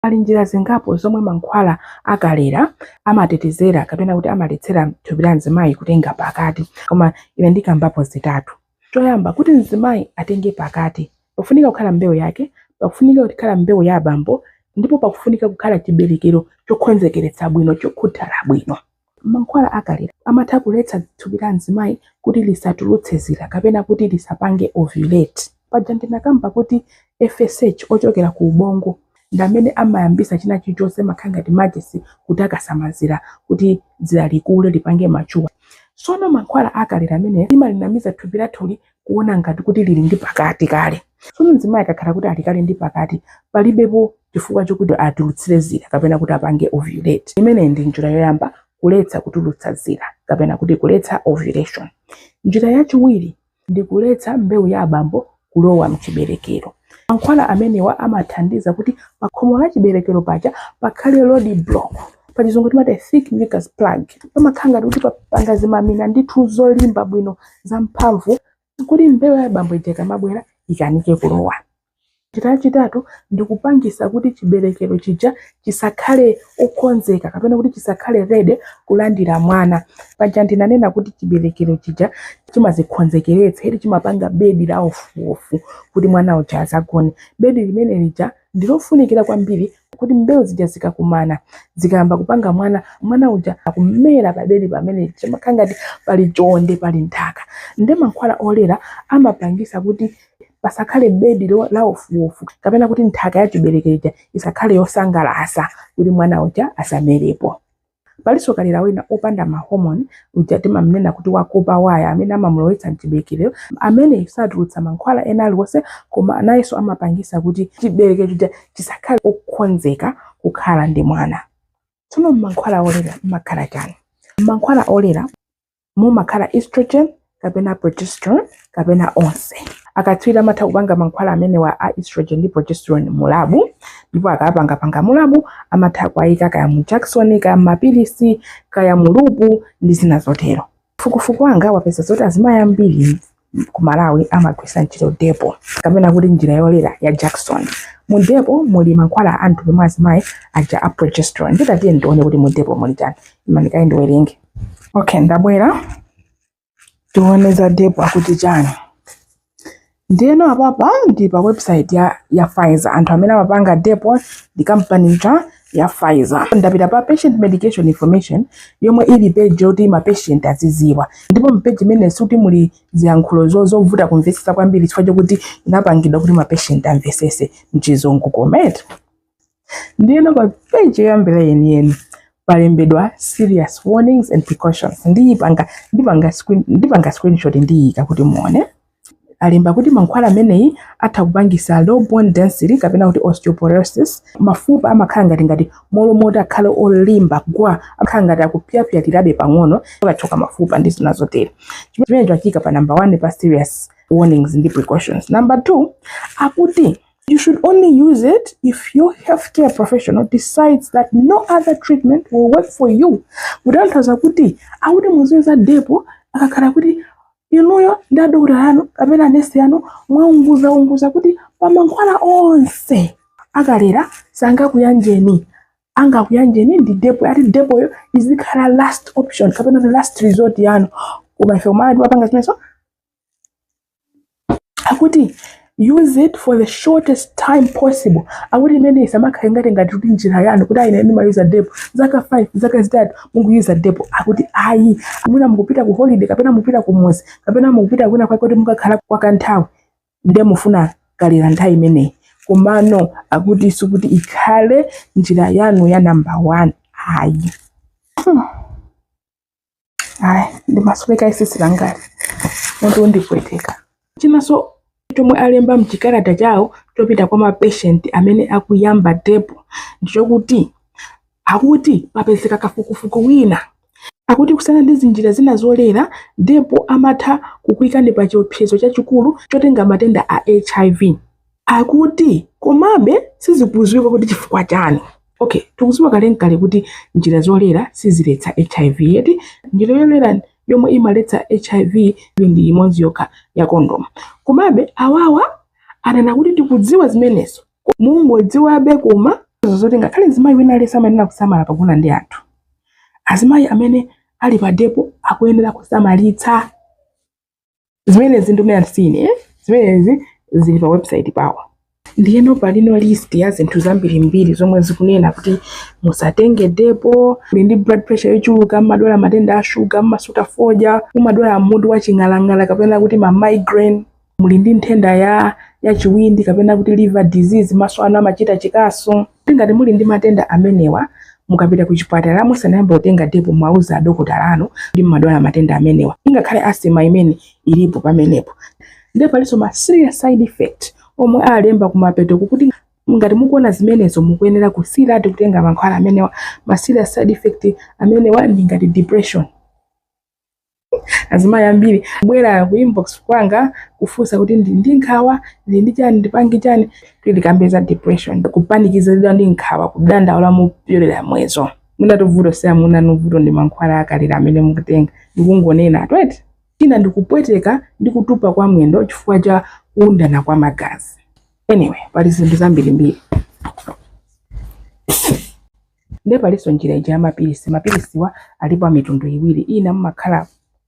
Pali njira zingapo zomwe mankhwala a kalera amatetezera kapena kuti amaletsera thupi la mzimayi kutenga pakati koma ine ndikambapo zitatu. Choyamba, kuti mzimayi atenge pakati pakufunika kukhala mbewu yake, pakufunika kukhala mbewu ya abambo ndipo pakufunika kukhala chiberekero chokhonzekeretsa bwino, chokhuthala bwino. Mankhwala akalera amatha kuletsa thupi la mzimayi kuti lisatulutse zira kapena kuti lisapange ovulate. Paja ndinakamba kuti FSH ochokera ku ubongo ndi amene amayambisa china chilichonse imakhala ngati machesi kutakasa mazira kuti dzira likule lipange mature. Sono mankhwala akalera amene imalinamiza thupi lathuli kuona ngati kuti lili ndi pakati kale sono mzimayi akakhala kuti ali kale ndi pakati palibepo chifukwa chokuti atulutsire zira kapena kuti apange ovulate imeneyi ndi njira yoyamba kuletsa kutulutsa zira kapena kuti kuletsa ovulation njira yachiwiri ndi kuletsa mbewu ya abambo kulowa mchiberekero Mankhwala amenewa amathandiza kuti pakhomo la chiberekero paja pakhale road block. Pachizungu timati thick mucus plug. Pamakhala ngati kuti papanga zimamina ndithu zolimba bwino zamphamvu kuti mbewu ya abambo ija ikamabwera ikanike kulowa. Njira yachitatu ndi kupangisa kuti chiberekero chija chisakhale okonzeka kapena kuti chisakhale ready kulandira mwana paja ndinanena kuti chiberekero chija chimazikhonzekeretsa ili chimapanga bedi la ofuofu kuti mwana uja azagone bedi limene lija ndilofunikira kwambiri kuti mbewu zija zikakumana zikayamba kupanga mwana mwana uja akumera pabedi pamene chimakhala ngati pali chonde pali nthaka nde mankhwala olera amapangisa kuti pasakhale bedi la ofuofu kapena kuti nthaka ya chiberekero ija isakhale yosangalasa kuti mwana uja asamerepo palinso kalera wina opanda mahomoni uja timamnena kuti wakopa waya amene amamulowetsa mchiberekero amene satulutsa mankhwala ena aliwonse koma nayenso amapangisa kuti chiberekero chija chisakhale okonzeka kukhala ndi mwana tsono mmankhwala olera mmakhala chani mmankhwala olera mumakhala estrogen kapena progesterone kapena onse akatswiri amatha kupanga mankhwala amenewa a estrogen ndi progesterone mu labu ndipo akapangapanga mu labu amatha kuwayika kaya mu jakisoni kaya mumapilisi kaya mu lupu ndi zina zotero kafukufuku wanga wapeza zoti azimayi ambiri ku Malawi amagwiritsa ntchito depo kapena kuti njira yolera ya jakisoni. Mu depo muli mankhwala a mtundu mwa azimayi aja a progesterone. Nditatiye ndione kuti mu depo muli chani. Imani kaye ndiwerenge. Okay, ndabwera tione za depo akuti chani. Ndiyeno apapa ndi pa website ya, ya Pfizer. Anthu amene amapanga depo ndi kampani ija ya Pfizer. Ndapita pa patient medication information yomwe ili page yoti ma patient aziziwa, ndipo mu page imene sikuti muli ziyankhulo zovuta kumvetsetsa kwambiri chifukwa chokuti inapangidwa kuti ma patient amvesese mchizungu koma eti. Ndiyeno pa page yoyambira yeniyeni palembedwa serious warnings and precautions, ndiyipanga ndipanga screenshot ndiyika kuti muone. alemba kuti mankhwala ameneyi atha kupangisa low bone density kapena kuti osteoporosis mafupa amakhala ngati ngati mmalo moti akhale olimba gwa amakhala ngati akupyapyalirabe pang'ono akachoka mafupa ndi zina zotero chimene chaikidwa pa number one pa serious warnings ndi precautions number two akuti You should only use it if your healthcare professional decides that no other treatment will work for you. Kutanthauza kuti akuti muziyuza depo akakhala kuti inuyo ndi adokotala yanu kapena nesi yanu mwaunguzaunguza kuti pa mankhwala onse akulera sangakuyanjeni angakuyanjeni ndi depo ati depoyo izikhala last option kapena the last resort yanu koma ife ku Malawi tipanga zimenezo akuti use it for the shortest time possible akuti imene isamakhale ngati ngati kuti njira yanu kuti ayi ine ndimayuza depo zaka 5 zaka zitatu mukuyuza depo akuti ayi mwina mukupita ku holiday kapena mukupita kumuzi kapena mukupita kwina kwake kuti mukakhala kwa kanthawi nde mufuna kulera nthawi imeneyi komano akuti sikuti ikhale njira yanu ya namba 1 ayi ayi ndimasweka tsitsi langali mutu undipweteka chinanso chomwe alemba mchikalata chawo chopita kwa mapeshenti amene akuyamba depo ndichokuti akuti papezeka kafukufuku wina akuti kusiyana ndi zinjira zina zolera depo amatha kukuikani pa chiopsezo chachikulu chotenga matenda a hiv akuti komabe sizikuziwika kuti chifukwa chani okay tikuziwa kalekale kuti njira zolera siziletsa hiv eti njira yolera yomwe imaletsa hiv ndi imodzi yokha ya kondomu komabe awawa anena kuti tikudziwa zimenezo mungodziwabe koma zoti ngakhale mzimayi wina aliyense amayenera kusamala pogona ndi anthu azimayi amene ali pa depo akuyenera kusamalitsa zimenezi ndunena ine sine eh? zimenezi zili pa website pawo ndiyeno palinso list ya zinthu zambirimbiri zomwe zikunena kuti musatenge depo muli ndi blood pressure yochuluka mmadwala matenda a shuga mmasuta fodya mumadwala mutu wa ching'alang'ala kapena kuti ma migraine muli ndi nthenda ya ya chiwindi kapena kuti liver disease maso anu amachita chikasu Ngati muli ndi matenda amenewa, mukapita kuchipatala musanayambe kutenga depo mumauza adokotala anu kuti mumadwala matenda amenewa, ingakhale asthma imene ilipo pamenepo. Ndiye palinso ma serious side effect omwe alemba kumapetoku kuti ngati mukuona zimenezo mukuyenera kusiyiratu kutenga mankhwala amenewa. Ma serious side effect amenewa ndi ngati depression. azimayi ambiri kubwera ku inbox kwanga kufunsa kuti ndili ndi nkhawa ndili ndi chani ndipange chani kuti ndikambe za depression kupanikizidwa ndi nkhawa kudandaula mopyolera mwezo mwinatu vuto si amuna anu vuto ndi mankhwala akalera amene mukutenga ndikungonena atwete china ndikupweteka ndi kutupa kwa mwendo chifukwa cha kuundana kwa magazi anyway pali zinthu zambirimbiri Nde palinso njira ija ya mapilisi. Mapilisiwa alipo a mitundu iwiri, ina mumakhala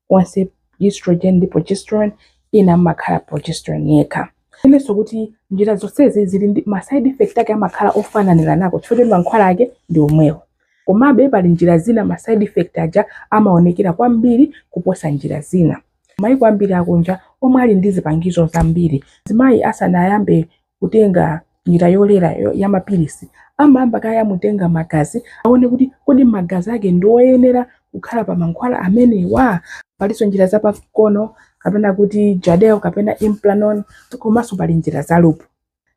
onse estrogen ndi progesterone, ina mumakhala progesterone yekha. Tinenenso kuti njira zonsezi zili ndi ma side effect ake amakhala ofananiranako chifukwa choti mankhwala ake ndi omwewo. Komabe pali njira zina ma side effect aja amaonekera kwambiri kuposa njira zina. Mayiko ambiri akunja omwe ali ndi zipangizo zambiri, mzimayi asanayambe kutenga njira yolera ya mapilisi amayamba kaye amutenga magazi aone kuti kodi magazi ake ndi oyenera kukhala pa mankhwala amenewa palinso njira zapamkono kapena kuti jadel kapena implanon komanso pali njira za lupu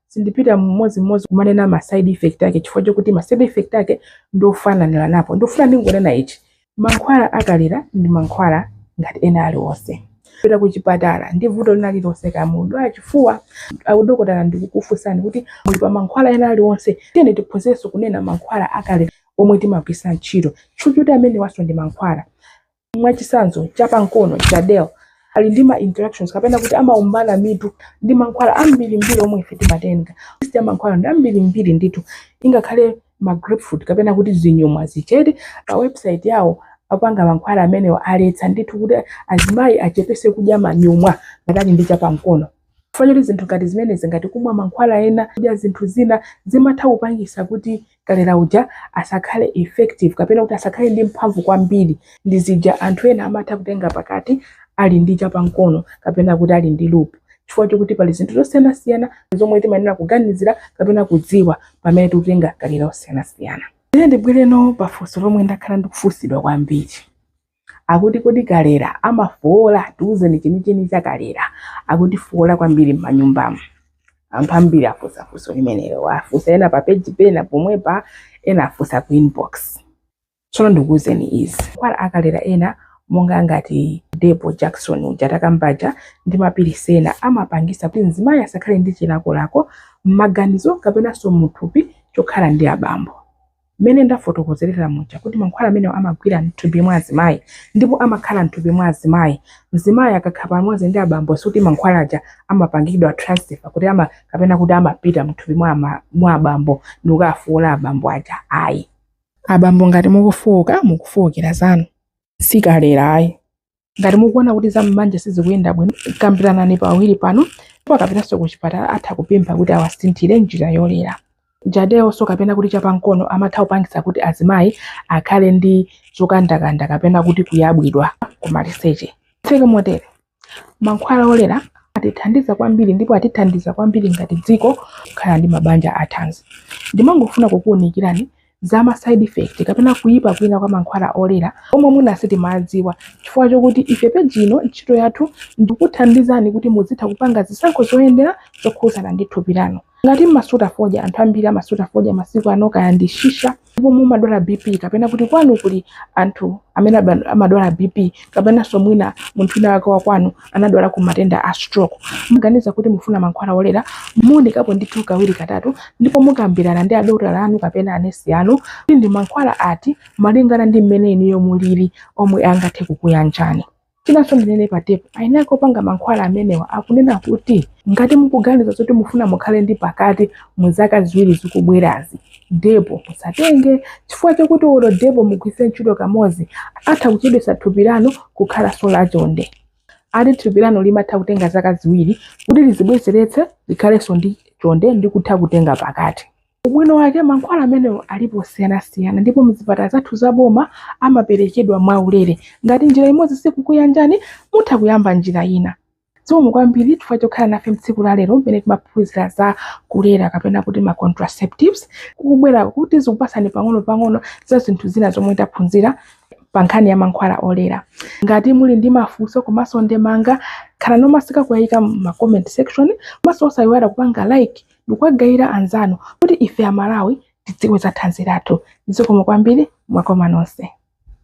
sindipita mmodzimmodzi kumanena ma side effect ake chifukwa chokuti ma side effect ake ndiofananiranapo ndifuna ndingonena ichi Mankhwala a kalera ndi mankhwala ngati ena aliwonse. Kupita kuchipatala ndi vuto lina lililonse kaya mukudwala chifuwa, adokotala ndikukufunsani kuti muli pa mankhwala ena aliwonse, tiyeni tiphunzirenso kunena mankhwala a kalera omwe timagwiritsa ntchito chifukwa choti amenewanso ndi mankhwala. Mwachitsanzo, chapankono, Jadelle, ali ndi ma interactions kapena kuti amaombana mitu ndi mankhwala ambirimbiri omwe ife timatenga. List ya mankhwala ndi ambirimbiri ndithu, ingakhale ma grapefruit kapena kuti zinyumwa zichepe pa website yawo apanga mankhwala amenewa aletsa ndithu kuti azimayi achepese kudya manyumwa ngati ali ndi chapamkono chifukwa choti zinthu ngati zimenezi ngati kumwa mankhwala ena kudya zinthu zina zimatha kupangisa kuti kalera uja asakhale effective kapena kuti asakhale ndi mphamvu kwambiri ndi zija anthu ena amatha kutenga pakati ali ndi chapamkono kapena kuti ali ndi lupu chifukwa chokuti pali zinthu zosiyanasiyana zomwe timayenera kuganizira kapena kudziwa pamene tikutenga kalera osiyanasiyana ine ndibwereno pa funso lomwe ndakhala ndikufunsidwa kwambiri akuti kodi kalera amafowola tiwuzeni chenicheni cha kalera akutifowola kwambiri m'manyumbamo anthu ambiri afunsa funso limenelo afunsa ena pa page pena pomwepa ena afunsa ku inbox Tsono ndikuuzeni izi, mankhwala akulera ena monga ngati Depo jakisoni uja takamba uja, ndi mapilisi ena amapangitsa kuti mzimayi asakhale ndi chilakolako mmaganizo kapenanso mu thupi chokhala ndi abambo. Mmene ndafotokozerera muja kuti mankhwala amenewa amagwira mthupi mwa azimayi ndipo amakhala mthupi mwa azimayi, mzimayi akakhala pamodzi ndi abambo sikuti mankhwala aja amapangidwa transfer kuti ama kapena kuti amapita mthupi mwa abambo ndikukafoola abambo aja ayi. Abambo ngati mukufooka mukufookera zanu si kulera ayi. Ngati mukuona kuti za m'banja sizikuyenda bwino kambiranani pawiri panu ndipo akapitanso kuchipatala atha kupempha kuti awasinthire njira yolera. Jadellenso kapena kuti chapankono amatha kupangitsa kuti azimayi akhale ndi zokandakanda kapena kuti kuyabwidwa kumaliseche. Titseke motere. Mankhwala olera atithandiza kwambiri ndipo atithandiza kwambiri ngati dziko kukhala ndi mabanja athanzi. Ndimangofuna kukuunikirani za ma side effect kapena kuyipa kwina kwa mankhwala olera omwe mwina sitimadziwa chifukwa chokuti ife peji ino ntchito yathu ndikuthandizani kuti muzitha kupanga zisankho zoyenera zokhudzana ndi thupi lanu. Ngati mmasuta fodya, anthu ambiri amasuta fodya masiku ano, kaya ndi shisha, ndipo mumadwala bp kapena kuti kwanu kuli anthu amene aba- amadwala bp kapenanso mwina munthu wina wake wakwanu anadwalako matenda a stroke mukaganiza kuti mufuna mankhwala olera muunikepo ndithu kawiri katatu ndipo mukambirane ndi adokotala anu kapena anesi anu kuti ndi mankhwala ati malingana ndi mmene inuyo mulili omwe angathe kukuyanjani Chinanso ndinene pa depo, eni ake opanga mankhwala amenewa akunena kuti ngati mukuganiza zoti mufuna mukhale ndi pakati mu zaka ziwiri zikubwerazi, depo musatenge chifukwa chakuti olo depo mugwiritse ntchito kamodzi atha kuchedwetsa thupi lanu kukhalanso lachonde. Ati thupi lanu limatha kutenga zaka ziwiri kuti lizibwezeretse likhalenso ndi chonde ndi kutha kutenga pakati. Ubwino wake, mankhwala amenewa alipo osiyanasiyana ndipo m'zipatala zathu zaboma amaperekedwa mwaulere. Ngati njira imodzi sikukuyanjani, mutha kuyamba njira ina. Zikomo kwambiri chifukwa chokhala nafe m'tsiku la lero mmene timaphunzira za kulera kapena kuti ma contraceptives. Ndikukhulupirira kuti zikupatsani pang'onopang'ono za zinthu zina zomwe taphunzira pa nkhani ya mankhwala olera. Ngati muli ndi mafunso komanso ndemanga, khalani omasika kuyayika m'ma comment section komanso osayiwala kupanga like ndikuwagayira anzanu kuti ife amalawi tidziwe za thanzi lathu zikomo kwambiri mwakoma nonse